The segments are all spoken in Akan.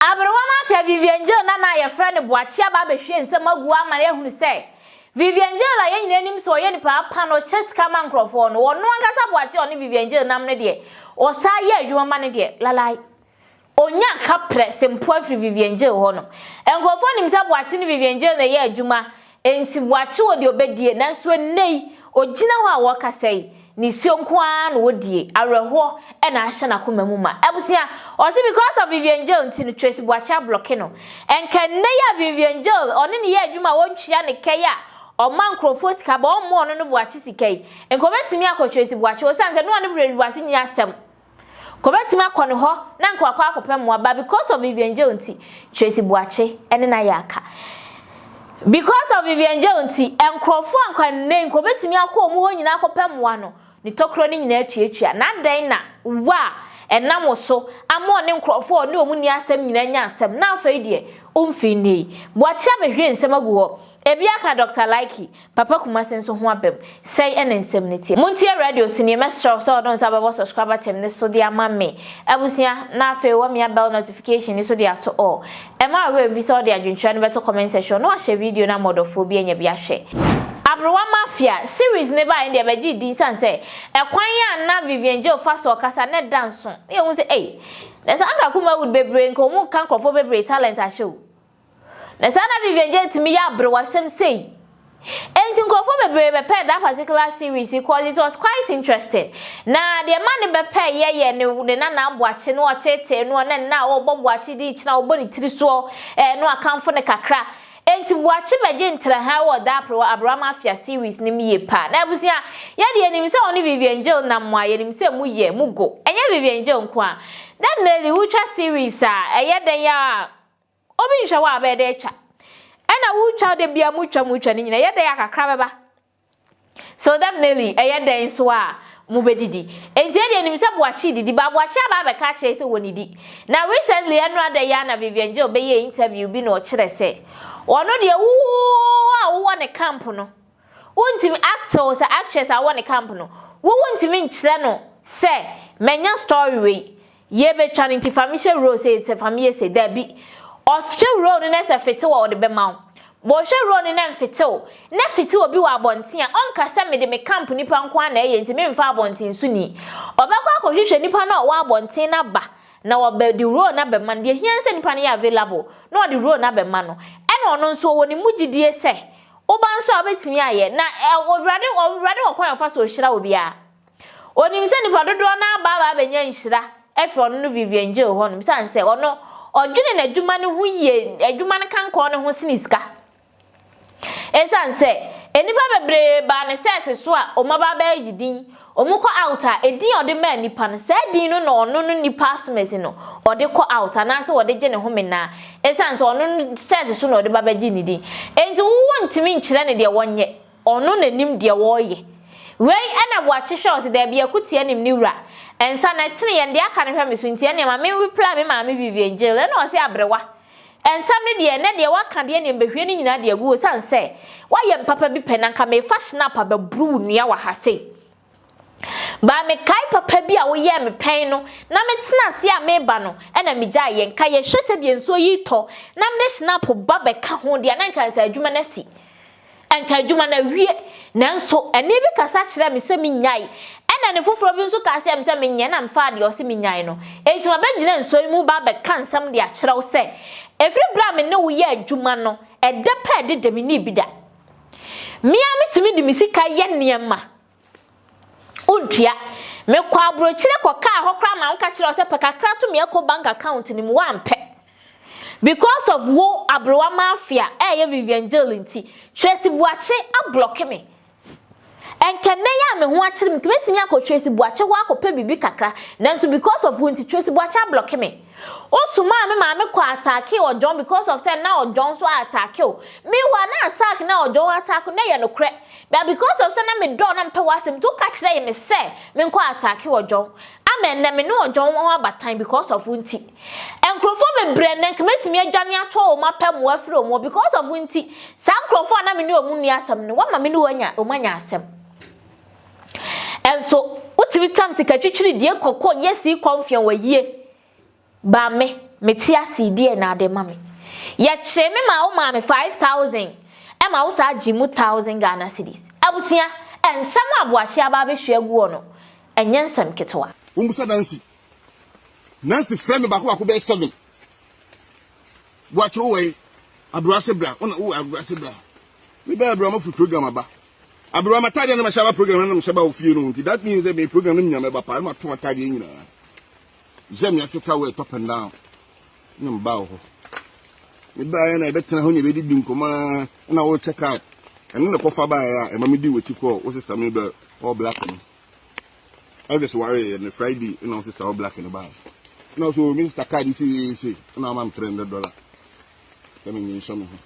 Aberewa no afia Vivian Jail no a na wɔfrɛ no Boakye aba abɛhwie nsɛm agu hɔ ama yɛahunu sɛ Vivian Jail a yɛn nyinaa nim sɛ ɔyɛ nipa pa na ɔkyɛ sika ma nkurɔfoɔ no, ɔno ankasa Boakye a ɔne Vivian Jail nam no deɛ, ɔsan yɛ adwuma ma no deɛ, lalai. Ɔnya kaprɛ se mpo afiri Vivian Jail hɔ no. Nkurɔfoɔ nim sɛ Boakye ne Vivian Jail na ɛyɛ adwuma Enti wɔakye wɔ deɛ ɔbɛdie, nanso ɛnnɛ yi, ɔgyina hɔ a wɔrekasa yi, nisuo nko ara na ɔdie, awerɛhoɔ na ahyɛ n'akoma mu ma. Abusua, wɔse because of Vivian Jail nti no, Tracy Boakye ablɔke no. Nka ɛnnɛ yi a Vivian Jail, ɔne no yɛ adwuma a ɔntua no ka yi a ɔma nkorɔfoɔ sika, but ɔmma ɔno no Boakye sika yi, nka ɔbɛtumi akɔ Tracy Boakye, osiane sɛ ne ɔne Tracy Boakye nni asɛm. Kobetumi akɔ ne hɔ na anka wakɔ akɔpɛ mmoa but because of Vivian Jeo nti, Tracy Boakye ne no ayɛ aka. Because of Vivian Jeo nti, nkurɔfoɔ a anka nnɛ yi nka wɔbetumi akɔ wɔn hɔ nyinaa akɔpɛ mmoa no, ne tɔkorɔ no nyinaa atuatua. Na adɛn na wo a ɛnam wo so ama ɔne nkurɔfoɔ a ɔne wɔn nni asɛm nyinaa anya asɛm, na afei deɛ, womfii nnɛ yi. Boakye abɛhwie nsɛm agu hɔ. Ebia ka Dɔkta Likey, Papa Kumasi nso ho abam. Sɛi ɛna nsɛm no teɛ. Montie radio so nie, mɛsrɛ wo sɛ wode wo nsa bɛbɔ subscribe button no so de ama me abusua na afei woamia bell notification no so de ato all. Ɛmma wo werɛ mfi sɛ wode adwenkyerɛ no bɛto comment section na wahyɛ video no ama ɔdɔfoɔ bi anya bi ahwɛ. Aberewa Mafia, Series no baeɛ no deɛ bɛgyee din sane sɛ ɛkwan a na Vivian Geo fa so ɔkasa no da nso. Woyɛ hu sɛ ei! Nɛ sɛ anka Kumawood bebree nka ɔmo ka nkorɔfoɔ bebree talent ahyɛ o. Na saa na Vivian Jay tumi yɛ aberewasɛm sei. Enti nkurɔfoɔ bebree bɛpɛɛ that particular series yi cause it was quite interesting. Na deɛ ɛmaa ne bɛpɛɛ yɛ yɛ ne ne nana aboakye no ɔtetee noɔ na nna a ɔbɔ boakye din kyena ɔbɔ ne tiri soɔ ɛɛ no akamfo no kakra. Enti boakye bɛgye ntraha ɛwɔ that abre aberewa mafia series no mu yie paa. Na abusua, yɛ deɛ yɛnim sɛ ɔne Vivian Jay nam mo a yɛnim sɛ mo yɛ, mo go. Ɛnyɛ Vivian Jay nko a. That Melly wotwa series a ɛyɛ dɛn ara a Obi nhwɛ wo a bɛyɛ dɛ etwa. Ɛna wo twa da bia mu twa mu twa ne nyina ɛyɛ dɛn a kakra bɛba. So definitely ɛyɛ dɛn nso a mo bɛ didi. Enti yɛ deɛ nim sɛ Boakye didi but Boakye aba abɛka akyerɛ yɛ sɛ wɔ nidi. Na recently ɛnora da yi ara na Vivian Geo bɛyɛɛ interview bi na ɔkyerɛ sɛ ɔno deɛ woo a wowɔ ne camp no. Wontumi acte wo sɛ actress a wowɔ ne camp no. Wo wontumi nkyerɛ no sɛ manya story wei, yɛbɛtwa no nti fa me hyɛ role sei sɛ fa me yɛ sei. Dabi. Ɔhwɛ role no na sɛ fete wɔ ɔde bɛma wo. Ɔhwɛ role no na mfete wo na fete obi wɔ abɔnten a, ɔnka sɛ mede me camp nnipa nko ara na ɛyɛ nti memfa abɔnten soni. Ɔbɛkɔ akɔhwehwɛ nipa no a ɔwɔ abɔnten no aba na wabɛde role no abɛma no. Deɛ ɛhia ne sɛ nipa no yɛ available na ɔde role no abɛma no. Ɛna ɔno nso ɔwɔ ne mu gyidie sɛ Wo ba nso a, wobɛtumi ayɛ. Na Awurade, Awurade wɔ kwan a ɔfa so ɔhyira obiara. Ɔnim sɛ nnipa dodoɔ no ara bɛaba abɛnya nhyira afiri ɔno no Vivian Gill hɔ nom, ɛsiane sɛ ɔno, ɔdwene n'adwuma no ho yie, adwuma no kankɔɔ ne ho sene sika. Ɛsiane sɛ nnipa bebree baa ne sɛɛte so a wɔaba abɛgye din, Wɔkɔ out a, edin a ɔde maa nipa no, saa din no na ɔno no nipa asomasi no ɔde kɔ out anaasɛ ɔde gye ne home naa. Esiane sɛ ɔno no sɛɛt so na ɔde ba bɛgye ne din nti, wontumi nkyerɛ no deɛ ɔnyɛ, ɔno na nim deɛ ɔreyɛ. Wei na Boakye hwɛ ɔse daabi akuteɛ nim ne wura. Nsa no ɛtene yɛn deɛ aka no hwɛ me so nti ɛneɛ ma me reply me maame Vivian Jill ɛna ɔse aberewa. Nsɛm no deɛ, nɛ deɛ w'aka deɛ neɛ mbɛhwie ne nyinaa de agu osiane sɛ w'ayɛ me papa bi pɛ na nka meefa shnap abɛboro wo nua wɔ ha sei. Baa mekae papa bi a woyɛɛ me pɛn no na metena aseɛ a meeba no ɛna megyae yɛ nka yɛhwɛ sɛdeɛ nsuo yi retɔ na mede shnap ba bɛka ho deɛ a na nka ansa adwuma no asi. Anka adwuma no awie, nanso ɛnne bi kasa kyerɛɛ me sɛ minnyae. Ɛnna ɛnne foforo bi nso ka kyerɛɛ me sɛ menyɛ, na mefaa deɛ ɔse minnyae no. Enti mabɛgyina nsuo yi mu reba abɛka nsɛm de akyerɛ wo sɛ, ɛfiri berɛ a me ne wo yɛɛ adwuma no, ɛdɛ pɛɛ de da minnii bi da. Me ara metumi de me sika yɛ nneɛma. Wontua. Mekɔɔ aburokyire kɔkaa hɔ koraa maa woka kyerɛɛ wo sɛ pɛ kakra to me Eco Bank account no mu, woampɛ. Because of wo aberewa mafia ɛɛyɛ Vivian Jail nti, Tracy Buakye ablɔke me. Ɛnka nnɛ yi a me ho akyere me, nka mɛtumi akɔ Tracy Buakye hɔ akɔpɛ biribi kakra, nanso because of wo nti, Tracy Buakye ablɔke me. Wosomaa me maame kɔ attackee Ɔdwɔn because of sɛ na Ɔdwɔn nso a attackee wo. Meanwhile, na attack no a Ɔdwɔn attack wo no yɛ nokorɛ. But because of sɛ na me dɔ wo na me pɛ w'asɛm nti wo ka kyerɛɛ me sɛ me nkɔ attacke Ɔjɔn ama ɛnnɛ me ne Ɔjɔn wɔ ho abatan because of wo nti nkurɔfoɔ bebree ɛnnɛ nka mɛtumi adwane atoɔ wɔn apɛ mmoa afiri wɔn hɔ because of wo nti saa nkurɔfoɔ a na me ne wɔn nni asɛm no woama me ne wɔn anya wɔn anya asɛm ɛnso wotumi tam sika twitwiri die kɔkɔ yɛ sii kɔmfeɔn wayie. Ba me, mete ase yi, deɛ na ade ma me? Yɛkyee me maa wo maa me five thousand ɛma wo saa gyee mu thousand Ghana cedis. Abusua, nsɛm a Aboakye aba abɛhwie agu hɔ no, ɛnyɛ nsɛm ketewa. Mommisa Nancy. Nancy frɛ me baako baako bɛyɛ seven. Boakye wo wɔ he? Aberewa se bra. Wo na wo wɔ Aberewa se bra. Me bɛn Aberewa mafiri program aba. Aberewa m'ataadeɛ na mahyɛ aba program na na mehyɛ ba wɔ fie no ho nti that means sɛ me program no menya mɛba paa na mato m'ataadeɛ nyinaa. Gya me ase ka wo ɛtɔ pɛ nnaa na mebaa wo hɔ. Mebaeɛ na yɛbɛtena hɔ na yɛbɛdidi nkɔmmɔ ara na worekyɛ card. Ɛno na ɛkɔfa baeɛ a ɛma medi w'akyi kɔɔ wo sista Mabel All Black no. Elvis wareeɛ no Friday na wo sista All Black no baeɛ. Na ɔsɛ o me sista card seesei na wama me 300 dollar sɛ menyɛ nhyɛ me ho.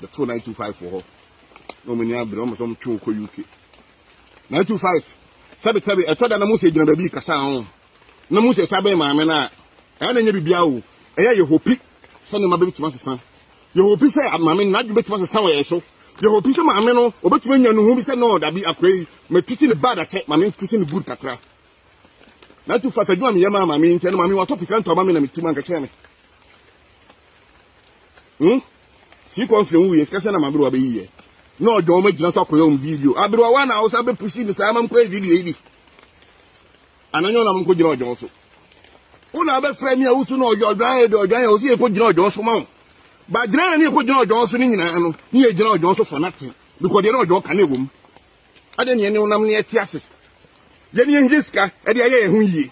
bɛtoo 925 wɔ hɔ na wɔn ani abere wɔn sɛ wɔn twe kɔ uk 925 sɛbisɛbi ɛtɔ da na mo sɛ gyina baabi kasa ho na mo sɛ sa bɛn maame na ɛyɛ na nyɛ biribiara o ɛyɛ yɛ hopi sɛ nneɛma bɛbɛtumi asesa yɛ hopi sɛ maame no n'adwene bɛtumi asesa wɔ yɛ so yɛ hopi sɛ maame no ɔbɛtumi anya ne ho bi sɛ no dabi akora yi matiti ne bad akyɛ maame ntiti ne good kakra na tu fa fadwuma meyɛ maa maame nkyɛn no maame watɔ pikira ntɔma me na metim ankakyɛ me hmm sii kɔn firi nwuyɛ sika sɛ na maberewa bɛyi yɛ na ɔdwa wɔn agyina so akɔyɛ wɔn video aberewa wa na awosa bɛpusi ne saa ma mkɔyɛ video yi bi ananyɛ ɔnam nkɔ gyina ɔdwa so wo na abɛfrɛ me a wosu na ɔdwa ɔdwa yɛ de ɔdwa yɛ ɔsi yɛkɔ gyina ɔdwa so ma wo ba gyina na ne yɛkɔ gyina ɔdwa so ne nyinaa no ne yɛ gyina ɔdwa so for nothing because deɛ na ɔdwa ka ne ɛwɔ mu ɛde neɛ ne wonam ne ɛte ase yɛne yɛnyɛ sika ɛde ayɛ yɛ ho yie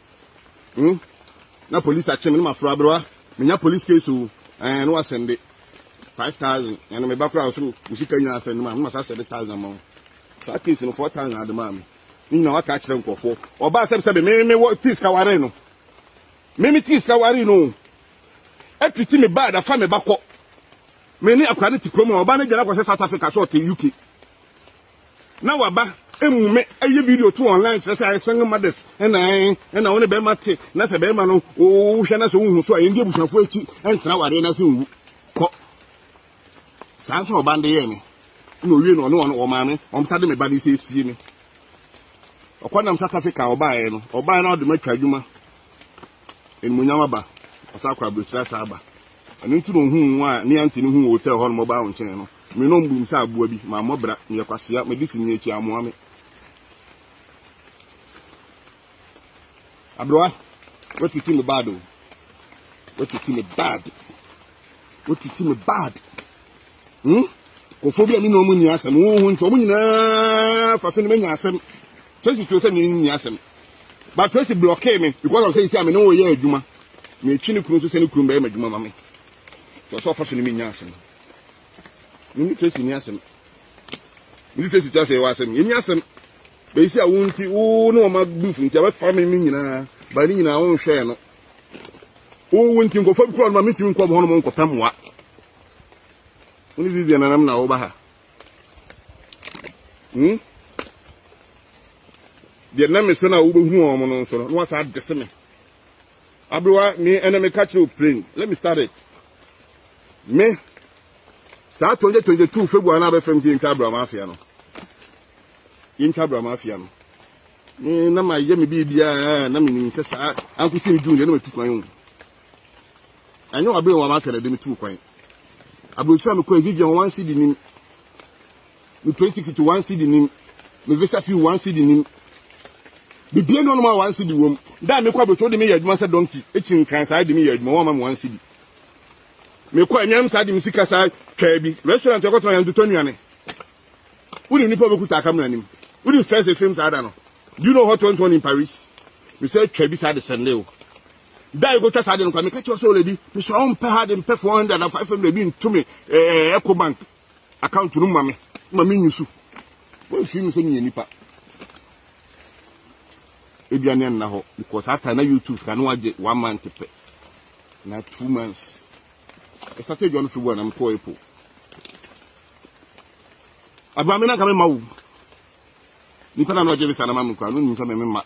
mm na police akye me na maforo aberewa menya police case o ɛn na wasɛnde five thousand ɛna meba koraa ɔsɛ wo sika nyinaa asɛnde maa me masa sɛde thousand ama wo saa case no four thousand ade maa me ne nyinaa waka akyerɛ nkurɔfoɔ ɔbaa sɛbsɛbe me me wɔ tii sika ware no me me tii sika ware no o ɛtiti me baa dafa me ba kɔ me ne akora no te kurom a ɔbaa no gyina kɔ sɛ south africa sɛ ɔte uk na waba emu me ɛyɛ video to online kyerɛ sɛ ayɛ single mothers ɛna ɛn ɛna wɔn ne bɛrima te na sɛ bɛrima no wohwɛ na sɛ wohu so a yɛn di abusuafo akyi ɛntena awadeɛ na se nwu kɔ saa nso ɔba de yɛ me na owie na ɔne wɔn wɔn maame wɔn sa de me ba de sɛ esie me ɔkɔ nam south africa ɔbaeɛ no ɔbaeɛ no ɔde me atwa adwuma animuonyam aba, ɔsan akɔ aburokyiri ahyɛ aba. Ɛno nti na ohuu nwa a ne aunty no huu wɔ hotel hɔ no mɔbaa wo nkyɛn no. Me no mbum sɛ aboa bi, mammɔ bra, meyɛ kwasea, mede si nea akyi a amoa me. Abrewa, woatiti me bad o. Woatiti me bad. Woatiti me bad. Hmm? Kofo bi a me ne wɔn nni asɛm, wo ho nti wɔn nyinaa fa so ne manya asɛm. Tracy tuo sɛ me nni asɛm. But Tracy blockee me because of sɛ esi a me ne wo yɛ adwuma. Metwi ne kunu nso sɛ ne kunu bɛyɛ m'adwuma ma me. Sɛ ɔsɛ ɔfa so ne menya asɛm. Me ne Tracy nni asɛm. Me ne Tracy tua sɛ yɛwɔ asɛm. Yɛnni asɛm. Bɛsi a wo nti wo ne wɔn abuf nti abɛfa me me nyinaa. Ba ne nyinaa wo nhwɛɛ no. Wo wo nti nkɔfɔ bi kura no ma metumi nkɔ hɔ nom nkɔpɛ mmoa. Wo ne Vivian anam na woba ha. Hmm? Deɛ nam me so na wobɛhunu wɔn no nso no, na wasa adese me. Aberewa, me ɛna meka kyerɛ wo plain. Let me start it. Me, saa 2022 February na abɛfam sɛ yɛntwa Abraham afia no. Yɛntwa Abraham afia no. Me na mayɛ me biribiara na menim sɛ saa ankosi me June deɛ na matu kwan mu. Ɛnyɛ w'abere nwonwa ahwɛ na ɛde me tuu kwan. Aburokyire a mekɔe, Vivian one cedi nim. Me plane ticket one cedi nim. Me visa fee one cedi nim. Bibie no nom a one cedi wom. Da a mekɔ aburokyire, wode me yɛ adwuma sɛ donkey, ekyi nkran saa de me yɛ adwuma, wɔmma me one cedi. Mekɔ anuanom saa de me sika saa twaa bi. Restaurant yɛkɔtena yɛn totɔ nnuane. Wonim nipa a obekuta akamera nim. Wonim stress efim saa da no. Do you know what went on in Paris? Mesɛ twaa bi saa de sɛnde o. da a yɛkɔtwa saa de no kwa meka kyerɛ sɛ oledi mesrɛ wo mpɛ ha de mpɛ 400 na 500 bi nto me eco bank account no ma me ma menyu so wɔmfiri me sɛ meyɛ nipa aduane anna hɔ because ata na youtube ka ne wagye one month pɛ na two months ɛsate adwa no firi bɔ a na mekɔɔ apple abrɛ me na nka mema wo nipa na na ɔgye me saa na ma me kora no nim sɛ me mema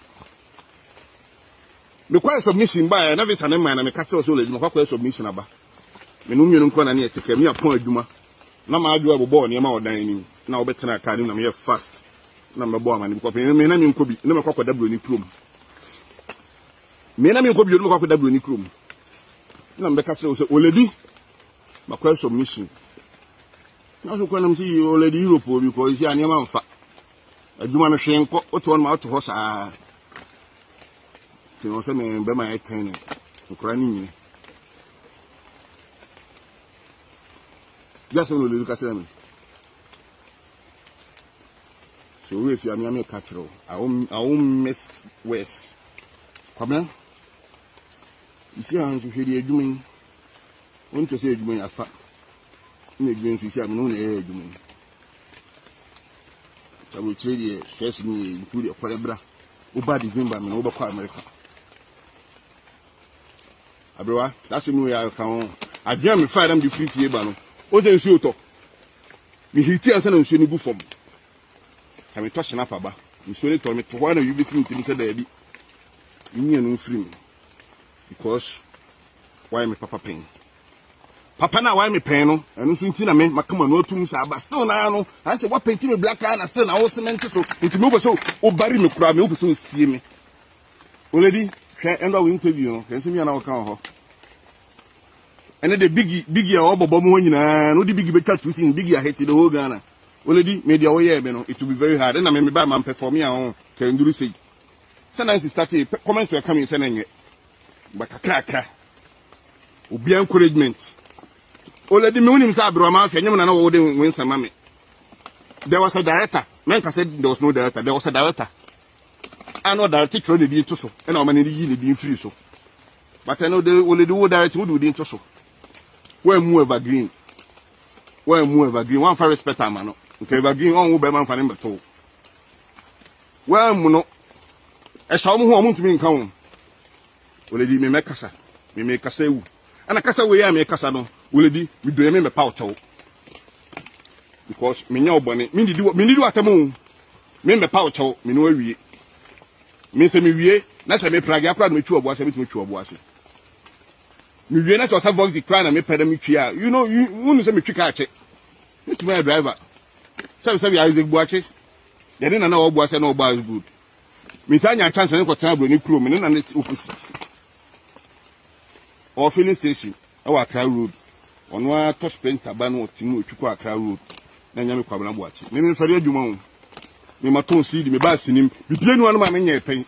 Mekɔɛ submission baɛ na visa no mmaɛ na meka kyerɛw sɛ ɔlady makɔ akɔyɛ submission aba. Me ne wo mmienu nko na ne yɛte kaa mu yɛapɔn adwuma na m'adwoa ɛbobɔɔ nneɛma wɔ dan anim na wobɛtenaa kaa no mu na meyɛɛ fast na mebɛbɔɔ amane bi kɔpem me na menkɔ bi na mɛkɔ akɔda buroni kurom me na menkɔ bio na mɛkɔ akɔda buroni kurom na mebɛka kyerɛ wo sɛ ɔlady makɔyɛ submission na so kwanam sɛ ɔlady Europe obi kɔ ɛsi a nneɛma mfa adwuma no hwee nkɔ wote hɔ no ma wote hɔ saa nti no sɛ me bɛma ɛtɛn no nkora no nyini gya sɛ no lelu ka kyerɛ me so owó efi amia mi ka kyerɛ o awo awo miss west kwabena isi a nso hwɛ di adwuma yi wɔn kyɛ sɛ adwuma yi afa ɛna adwuma yi nso isi a mi na wɔn na ɛyɛ adwuma yi. aburokyire deɛ first no yɛ nkuo deɛ kɔlɛ bra woba december mena wobɛkɔ america aberewa saa asɛm no yɛ aka ho adwene a mefa dam de firi fie ba no wosɛ nsuo tɔ mehiti ansa na nsuo no gu fam ka metɔ hyena pa ba nsuo no tɔ meto hɔ a na wi bɛsi metimi sɛ daabi menyia no mfiri mu because wayɛ me papa pɛn Papa no a wayɛ me pɛn no, ɛno nso nti na me maka m'ano atom saa ba still naa no, ayɛ sɛ woapenti me black eye na still na wo cement so, nti me wopɛ sɛ wobari me koraa, me wopɛ sɛ wosie me. Oledi, hwɛ ɛndɔ a wo interview no, hwɛ nsɛm yi a na wɔka wɔ hɔ. Ɛne de bigi bigi a wɔbɔbɔ mu hɔ nyinaa, no de bigi bɛtwa two seasons, bigi ahete the whole Ghana. Oledi, me deɛ wɔyɛɛ me no, it will be very hard, ɛna me me ba ma mpɛfɔme a ho, kɛnduru sei. Sɛ Nancy startee, comments were coming sɛ na nyɛ. But kakrakra. Obi encouragement. Oledi me unim sa abro ma afia nyem na na wo de wensa ma me. There was a director. Men ka said there was no director. There was a director. I know director tro ne din to so. And o man ne yi ne din free so. But I know the oledi wo director wo do din to so. Where mu evergreen. Where mu evergreen. One for respect amano. Nke evergreen on wo be man fa ne mbeto. wɔammono. Ɛhyɛ wɔn ho a wɔntumi nka wɔn. Wɔledi me mɛkasa, me mekasa awu. Ɛna kasa wei a mekasa no, wɔledi me dɔe me mɛpa ɔkyɛw. Because menyɛ ɔbɔne, mendidi mendidi w'atɛm o, me mɛpa ɔkyɛw, me no awie. Me sɛ mewie, na sɛ meprage akora na metwi ɔboa sɛ metumi twi ɔboa ase. Mewie na sɛ ɔsɛ voxy kora na mepɛ na metwi a, you know, you, wonu sɛ metwi kaa kyɛ. Mɛtumi ayɛ driver. Sɛbesɛbe Isaac Boakye, deɛ ne nana ɔboa sɛ na ɔbɔ as good. Metaa nya chance ne kɔtena aburoni kurom, me ne nana te opposite. Ɔwɔ filling station ɛwɔ Accra road. Ɔno ara tɔ sprinter ba na ɔte mu ɔtwi kɔ Accra road. Na nya me Kwabena Boakye. Me memfɛre adwuma ho. Me ma tɔn seed, me baa sinim. Bibie nua no ma me nyɛ pɛn.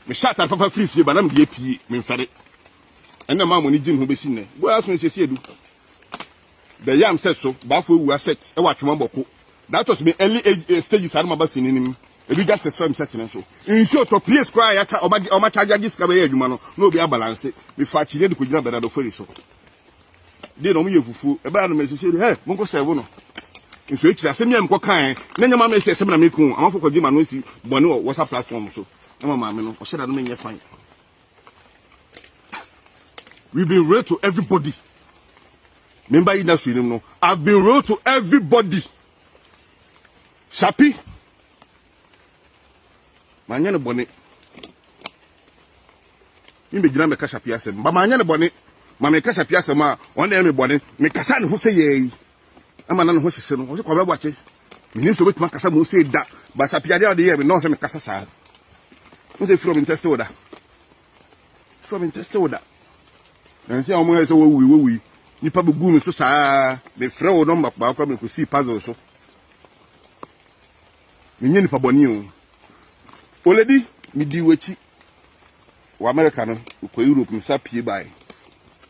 Me hyɛ atare papa firi fie ba na me deɛ pie, memfɛre. Ɛnna maa mo ne gye me ho bɛsi nnɛ. Go ask me sɛ si edu. The yam set so baafo awua set wɔ atwema bɔko that was me early age eh, stages ano maba sini nim ebi just a firm set ne so nsuo tɔ pies koraa ya cha ɔma ɔma charge agye sika bɛyɛ adwuma no na obi abalanse me fa kyini de ko gyina bernardo ferry so de na ɔmo yɛ fufuo ɛbɛyɛ no mɛsɛ sɛ hɛ mo nkɔ sɛbo no nso ekyir asɛm yɛ mkɔ kan na nyɛ maame sɛ sɛm na me ko amafo kɔ gyima no si bɔne wɔ whatsapp platform so na maame no ɔhyɛ da no menyɛ fan We've been real to everybody. Memba yi na so nim no. I've been real to everybody. Shapi. Manya ne bɔne. Mbe gyina meka Shapi asɛm. Ba manya ne bɔne. Ma meka Shapi asɛm a ɔna ɛyɛ me bɔne. Mekasa ne ho sɛ yɛi. ɛma na ne ho hyehye no ɔsɛ kwabra boakye menim sɛ wobɛtumi akasa mu sei da basa piadeɛ a wode yɛ me na ɔsɛ mekasa saa wo sɛ firi ɔmentɛste wo da firi ɔmentɛste wo da nansi a wɔn ayɛ sɛ wɔwui wɔwui nipa bɛgu me so saa mefrɛ wo nɔmba baako a mekɔsii puzzle so menyɛ nipa bɔne o oledi medi w'akyi wɔ amerika no kɔ europe mesa pie bae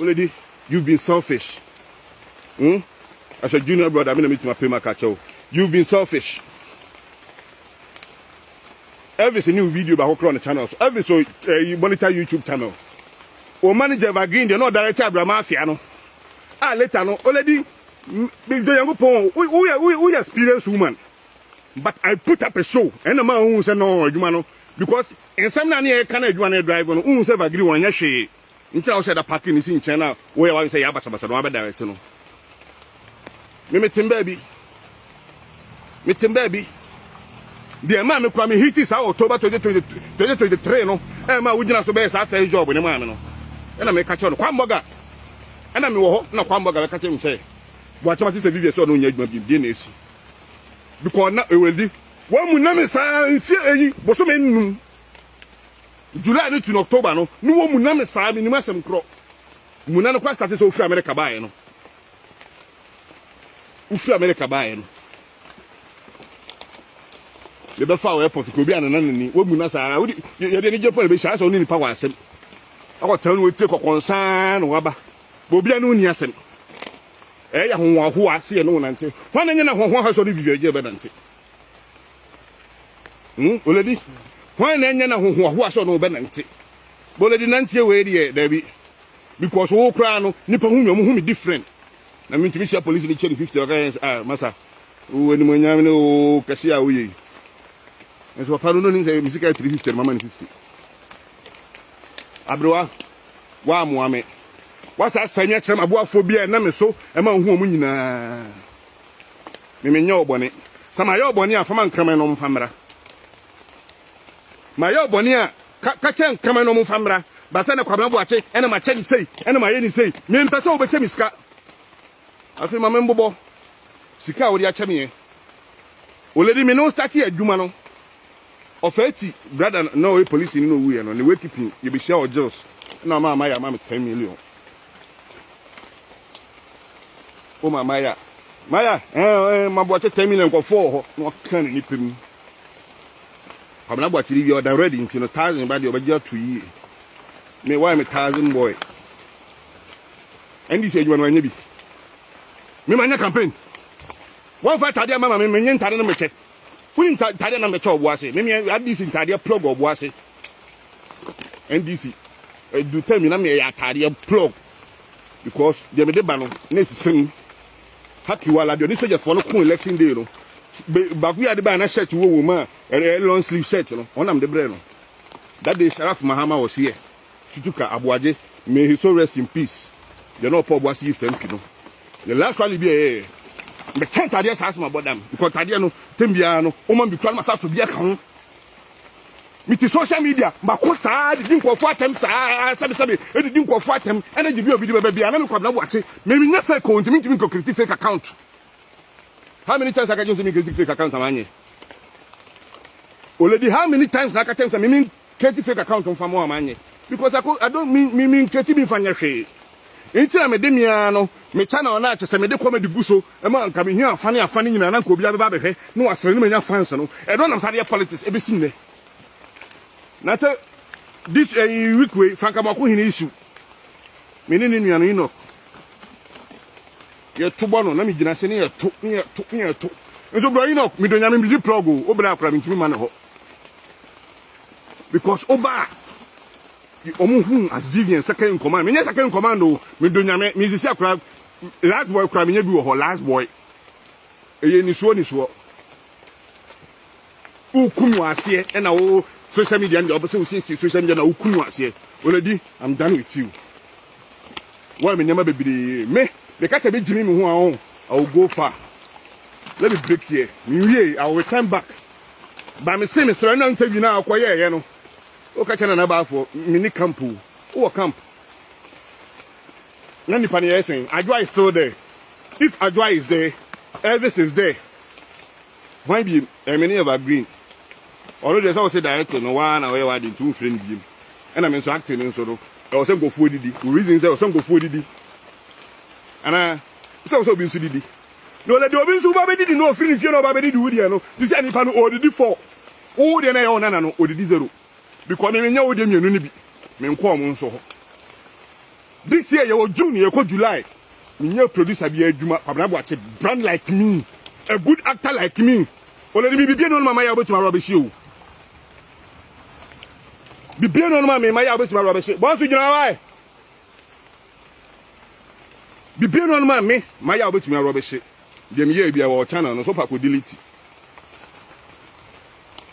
Wo lady you've been selfish hmm as a junior brother me na metumi apɛ mu aka kyɛ wo you've been selfish Elvis ne wo video baako korɔ ne channel so Elvis o eh, monitor YouTube channel o manager evergreen deɛ na ɔdirect abrama afia no a later no o lady dɔ yankopɔn woyɛ woyɛ experience woman but I put up a show ɛna ma wohu sɛ no adwuma no because Nsɛm no a na yɛreka na adwuma no redrive no, wohu sɛ Vagiri wɔnyɛ hwee nti na wo sɛ da parking no si nkyɛn na woyɛ w'adwene sɛ yɛ abasabasa na wɔabɛdirect no. Me metem baabi. Metem baabi. Deɛ ɛmaa me kura me hiti saa October 2023 no ɛmaa wogyina so bɛyɛ saa first job ne maa me no. Ɛna meka kyerɛ no Kwambɔga. Ɛna mewɔ hɔ na Kwambɔga bɛka kyerɛ me sɛ Boakyɛm ate sɛ Vivian sɛ ɔno nyɛ adwuma bi deɛ na ɛsi. Because na ɛwɛdi Wɔamu nam nsa mfeɛ eyi bosome nnum, July no tu no October no ne wɔmu nam nsa menim asɛm korɔ mu na no kora starte sɛ wofiri America baeɛ no wofiri America baeɛ no yɛbɛfa wɔ airport kɔ obi a nana nani wɔmu na saa wode yɛde ani gye pɔ na bɛhyia sɛ wo ne nipa wɔ asɛm akɔtena no wɔtie kɔkɔnsaa na waba bɛ obi a ne wo ni asɛm Ɛyɛ ahohoahoa sɛ yɛne wo nante. Hwan na ɛnyɛ na ahohoahoa sɛ ɔne Vivian Jay bɛnante? Hmm, Oledi, hwan na ɛnyɛ na ahohoahoa sɛ ɔne wo bɛnante? Boledi nanteɛ wei deɛ daabi. Because wo koraa no, nipa hu me, ɔmo hu me different. Na mentumi hyia polisi ne kyɛ ne 50 ɔka yɛn sɛ, ah, masa, wo animonyam ne wo kɛse a woyɛ yi. Nso papa no no nim sɛ me sika yɛ 350 no mama ne 50. Aberewa, woammoa me. Woasa asɛe me akyerɛ m'aboafoɔ bi a ɛnam me so ma wohu wɔn nyinaa. Me menyɛ wo bɔne. Sɛ mayɛ wo bɔne a, fa ma nkraman na wɔmfa mmra. Mayɛ wo bɔne a, ka, ka kyerɛ nkraman na wɔmfa mmra. Baasa na Kwabena Boakye na makyɛ no sei na mayɛ no sei. Mempɛ sɛ wobɛkyɛ me sika. Afei ma menbobɔ sika a wode akyɛ me ɛ. Olady me ne wo starte adwuma no, ɔfaa ti brada no na ɔyɛ polisini na owuiɛ no, ne wake pin yɛbɛhyia wɔ Gills na ɔmaa Maya ma me ten million. Woma Maya Maya ɛɛ eh, eh, ma Boakye ten million nkɔfoɔ wɔ hɔ na ɔka ne nipa mu. Kwabena Boakye de wia ɔda ready nti no thousand ba deɛ ɔbɛgye ato yie. Me why me thousand boy. NDC adwuma no wanyɛ bi. Me manyɛ campaign. Wɔmfa ntadeɛ mma ma me, menyɛ ntadeɛ no mekyɛ. Wonim ntadeɛ na mekyɛ ɔbo ase. Meme NDC ntadeɛ plug ɔbo ase. NDC ɛdu tɛm yi na meyɛ atadeɛ plug because deɛ mede ba no na ɛsisi no. Hakiwala deɛ ɔne sogyafoɔ no ko election day no baako yɛ ade baa na shirt wɔ wɔ mu a long sleeve shirt no ɔnam de brɛ no. That day Sharaf Mahama was here. Tutuka Aboagye may his soul rest in peace deɛ na ɔpɔ ɔboase East MP no ne last rally bi a ɛyɛɛ mɛkyɛ ntadeɛ saa so mabɔ dam because ntadeɛ no tɛm biara no woma bi kura no masa so bi aka ho mete social media mako saa didi nkɔfoɔ atɛm saa sɛbesɛbe ɛdidi nkɔfoɔ atɛm ɛna gye bi obi de bɛbɛ bia na mekwabena boakye memenyɛ fake o ntimi ntimi nkɔkriti fake account how many times aka kyɛm sɛ mekriti fake account amanyɛ oledi how many times na aka kyɛm sɛ meme Create fake account nfa moa ma nyɛ because I I don't me me me create bi nfa nyɛ hwee nti na mede me ara no me channel no a kyɛ sɛ mede comedy gu so ma nka mehia afa ne afa no nyinaa na nka obiara bɛba abɛhwɛ na wasere na manya fans no ɛno na mesade yɛ politics ɛbɛsi nnɛ na te this uh, week wei franka mɔko hene issue me ne ne nua no Enoch yɛto bɔ no na megyina se ne yɛto ne yɛto ne yɛto nso brɔ Enoch medɔ nyame medi plug o wobɛlɛ akora mentumi ma ne hɔ because oba a wɔn hu as vivian second in command menyɛ second in command o medo nyame mesisi akora last boy kora menyɛ bi wɔ hɔ last boy ɛyɛ nisuo nisuo wokum wɔ aseɛ ɛna wo social media no deɛ wɔpɛ sɛ wosiesie social media na wokum wɔ aseɛ oladi i'm done with you wɔyɛ me nneɛma bebree me meka sɛ bɛgyimi me ho a i will go far let me break here mewie i will return back Ba mese mesrɛ na interview no a ɔkɔyɛɛyɛ no woka kyɛ nana baafoɔ mene camp o wowɔ camp na nipa no yɛyɛ sɛn adwoa is still there if adwoa is there elvis is there hwan biem ɛme ne yɛba green ɔno deɛ sɛ wo se director no waa na ɔyɛ wade nti womfrɛ no biem ɛna me nso acting no nso no ɛwɔ sɛ nkɔfoɔ didi wo reason sɛ ɛwɔ sɛ nkɔfoɔ didi anaa sɛ wo sɛ obi nso didi Na ɔyɛ deɛ obi nso woba bɛdidi no ɔfiri ne fie na ɔba bɛdidi wo deɛ no te sɛ nipa no ɔredidi four wo deɛ no ɛyɛ wo nana no ɔdidi zero because me menyɛ wo deɛ mmienu no bi menkɔ ɔmo nso hɔ this year yɛwɔ June yɛkɔ July menyɛ producer bi adwuma Kwabena Boakye brand like me a good actor like me ɔlɛde me bibie ne ɔno mama yɛ wobɛtumi awura bɛhye o bibie ne ɔno mama yɛ wobɛtumi awura bɛhye bɔnso gyina wae Bibie no ma me ma yɛ a wobɛtumi arɔbehye deɛ meyɛɛ bia wɔ channel no so wopɛ akɔdelete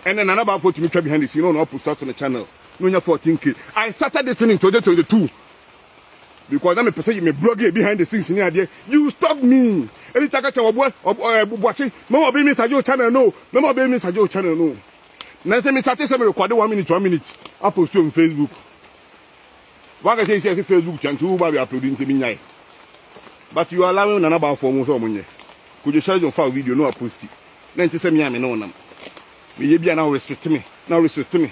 ɛnɛ nana baafo tumi twa behind the scene na ɔno apost ato ne channel na ɔnya 14k I started this thing in 2022 because na mepɛ sɛ me blog yɛ behind the scenes ne adeɛ you stop me ɛni ta ka kyɛ wɔboa bubuakye mɛma ɔbɛyi me sagye wo channel no mɛma ɔbɛyi me sagye wo channel no na sɛ me starte sɛ me rekɔde one minute one minute apost on Facebook Wakasa esi ase Facebook chant wo ba be upload nti me nyae. But you allowing nana ba fo mo so mo nyɛ. Kojo Sherjon fa video no a posti. Na nti sɛ me a me ne onam. Me ye bi a na restrict me. Na restrict me.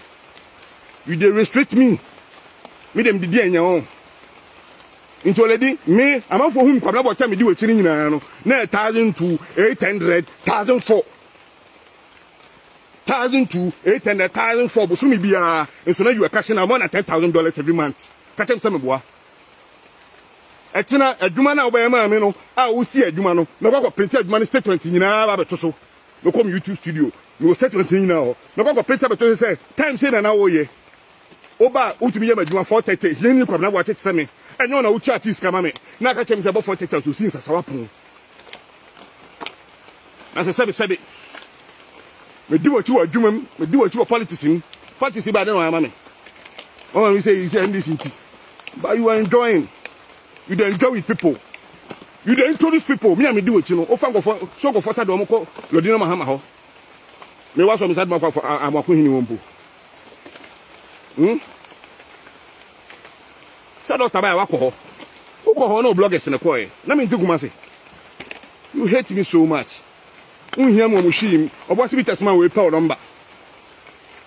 You dey restrict me. Me dem didi anya wo. Nti oledi me amanfo hu me kwabena bɔ kyɛ me di wakyi ne nyinaa no. Na 1002 800 1004. thousand to eight hundred thousand four bosome biara nso na you are cashing out more than ten thousand dollars every month ka kyɛm sɛ meboa ɛkyena adwuma no a wobɛyɛ maa me no a wosi adwuma no mɛkɔ akɔ printe adwuma no statement nyinaa ba bɛto so mɛkɔ me youtube studio mewɔ statement no nyinaa hɔ mɛkɔ akɔ printe bɛto so sɛ time sei na na woyɛ woba a wotumi yɛ m'adwuma four thirty hiani kwabena boakye te sɛ me ɛnyɛ wo na wotua tea sika ma me na aka kyerɛ me sɛ bɔ four thirty a ɔsɛ osi nsasawa pon Na sɛ sɛbe sɛbe medi w'akyi wɔ adwuma mu, medi w'akyi wɔ politics mu, politics ba de na wɔama me. Wɔma me sɛ yi sɛ NDC nti. But you are enjoying. You dey enjoy with people. You dey introduce people. Me a medi w'akyi no, wofa nkɔfɔ, so nkɔfɔ sa de wɔn kɔ Lodina Mahama hɔ. Me wa sɔ me sa de wɔn akɔ amako hini wɔn mpo. Hmm? Sɛ doctor bae a wakɔ hɔ. Wokɔ hɔ na oblɔgɛs na ɛkɔɔɛ. Na me nte Kumase. You hate me so much. Wonhia me wɔ mo hwii mu. Ɔbɔ asibitas ma wo epa wo number.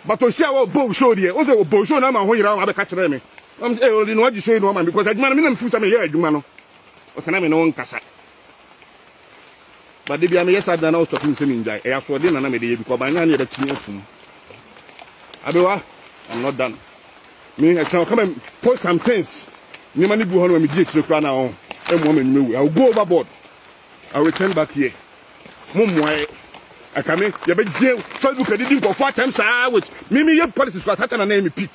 But ohyia wɔ bow show deɛ. Wose wɔ bow show na ama wo ho yera wo abɛka kyerɛ me. Nam se eh ɔde no agye show yi na wama me because adwuma no me na me feel sɛ me yɛ adwuma no. Ɔse na me ne wo nkasa. But da bia meyɛ saa ade na na ɔstɔpe me sɛ mengyae. Ɛyɛ asoɔden na na mede yɛ because by now ne yɛbɛkye me atom. Abewa, I'm not done. Me ɛkyɛn ɔka me post some things. Nneɛma no bi hɔ no ma medi akyire koraa na ɔn ɛmmoa ma nnwuma wu. I will go overboard. I will return back here. Mo mmoa ɛ. Ɛka me yɛbɛgye Facebook adidi nkɔfo atɛm saa with me me yɛ policies kwa satan na na yɛ me peak.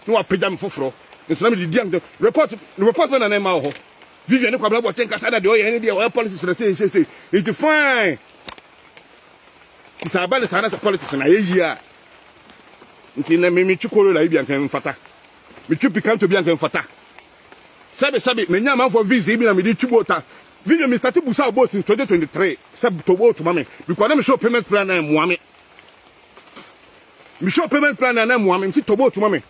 Na wapagya me foforɔ. Nso na mede di am report report bɛ na na ɛma wɔ hɔ. Vivian ne Kwabena Boakye nkasa na deɛ ɔyɛ ne deɛ ɔyɛ politics na sei sei sei nti fine ti saa ba ne saa na sɛ politics na ayɛ yie a nti na me metwi Corolla yi bi anka mfata metwi Picanto bi anka mfata sɛbi sɛbi menya amanfoɔ vibes yi bi na mede twi boota Vivian me start busa boat since 2023 sɛ to boat ma me because na me show payment plan na ɛmoa me me show payment plan na ɛmoa me msi to boat ma me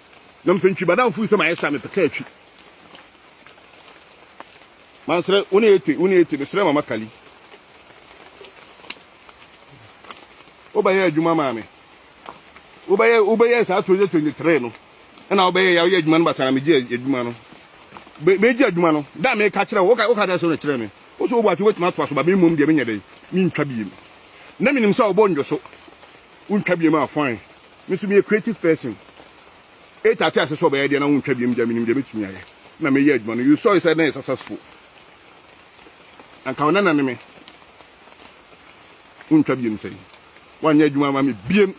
na mfɛntwi badamfo yi sɛ ma ɛsta me pɛka atwi mansrɛ wo ne ete wo ne ete mesrɛ mama kali wobɛyɛ adwuma maa me wobɛyɛ wobɛyɛ saa 2023 no ɛna wobɛyɛ yɛ woyɛ adwuma no basa na megye adwuma no megye adwuma no da meka kyerɛ wo woka dɛ sɛ wo ne kyerɛ me wo so wobɔ ate wobɛtumi atoa so ba memmom deɛ menyɛ dɛn mentwa biem na menim sɛ wobɔ ndwo so wontwa biem a fine me so meyɛ creative person Eight ate ase sɛ ɔbɛyɛ deɛ na wontwa biam gya menim deɛ mɛtumi ayɛ na meyɛ adwuma no you saw it sɛ na ɛyɛ successful anka ɔna nane me wontwa biam sɛn woanyɛ adwuma ama me biam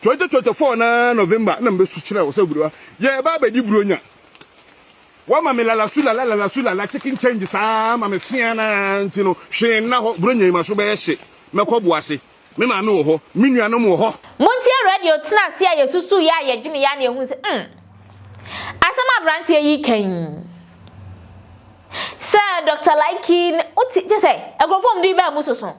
2024 na November na mebɛsu kyerɛ wo sɛ gurowa yɛba abɛdi buronya wama me lala su lala lala su lala chicken change saa ma me fea na nti no hwee nna hɔ buronya yi ma so bɛyɛ hye mɛkɔ boase Me maame wɔ hɔ. Me nuanom wɔ hɔ. Montie radio tena ase a yɛsusuiɛ a yɛdweneeɛ a na yɛhunu sɛ, mm, asɛm a aberanteɛ yi reka yi, sɛ Dɔkta Laiki, wote, kyɛ sɛ, nkurɔfoɔ a wɔn din baa mu soso.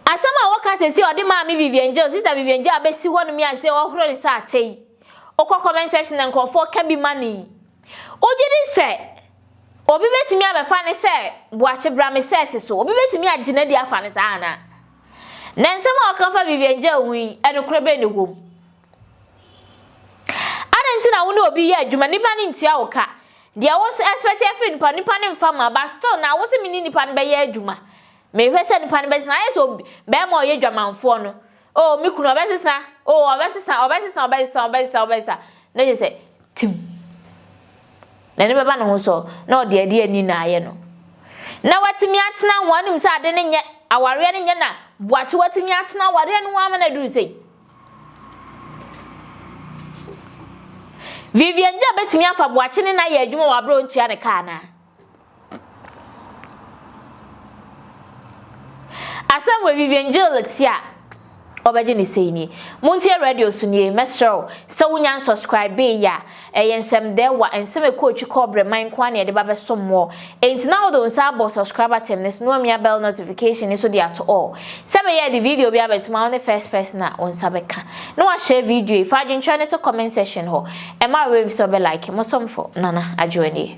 Asɛm a wɔka seesei a wɔde maa me Vivian Jail, Sista Vivian Jail abɛsi hɔnom yi a seesei wɔhoro ne sɛ ate yi, wokɔ comment section a nkurɔfoɔ ka bi ma no yi, Wogye di sɛ obi betumi abɛfa no sɛ boakye bra me sɛɛt so? Obi betumi agye no adi afa no saa anaa? Na nsɛm a wɔka fa Vivian Jay ho yi, nokorɛ bɛn na ɛwom? Adɛn nti na wo ne obi yɛ adwuma, nipa no ntua wo ka? Deɛ wo expect afiri nipa no, nipa no mfa mma, but still na wo se me ne nipa no bɛyɛ adwuma. Mehwɛ sɛ nipa no bɛtena, ayɛ sɛ bɛɛma a ɔyɛ dwamanfoɔ no, Oh me kunu ɔbɛsesa oh ɔbɛsesa ɔbɛsesa ɔbɛsesa ɔbɛsesa ɔbɛsesa na kyerɛ sɛ tim n'ani bɛba ne ho so na ɔde ade ani na ayɛ no na watumi atena ho anim sɛ ade no nyɛ awareɛ no nyɛ na boakye watumi atena awareɛ no ho ama no aduru sei Vivian gya bɛtumi afa boakye ne na yɛ adwuma wɔ aberɛ ɔntua ne kaa naa Asɛm wɔ Vivian Jill ti a ɔbɛgye ne sei nie. Montie radio so nie, mɛsrɛ wo sɛ wonya nsɔskraibeeyi a, ɛyɛ nsɛmdɛɛwa, nsɛm ɛkɔ otwi kɔ ɔbrɛ man nko ara na yɛde ba bɛsom mo all. Enti na wode wo nsa abɔ subscribe button no so na wamia bell notification no so de ato all. Sɛ ɛbɛyɛ a yɛde video bi abɛtom a wo ne first person a wo nsa bɛka. Na washare video yi, fa adwenkyerɛ no to comment section hɔ. Ɛmma wo werɛ mfi sɛ wobɛ like. Mo somfo, Nana Adwoa nie.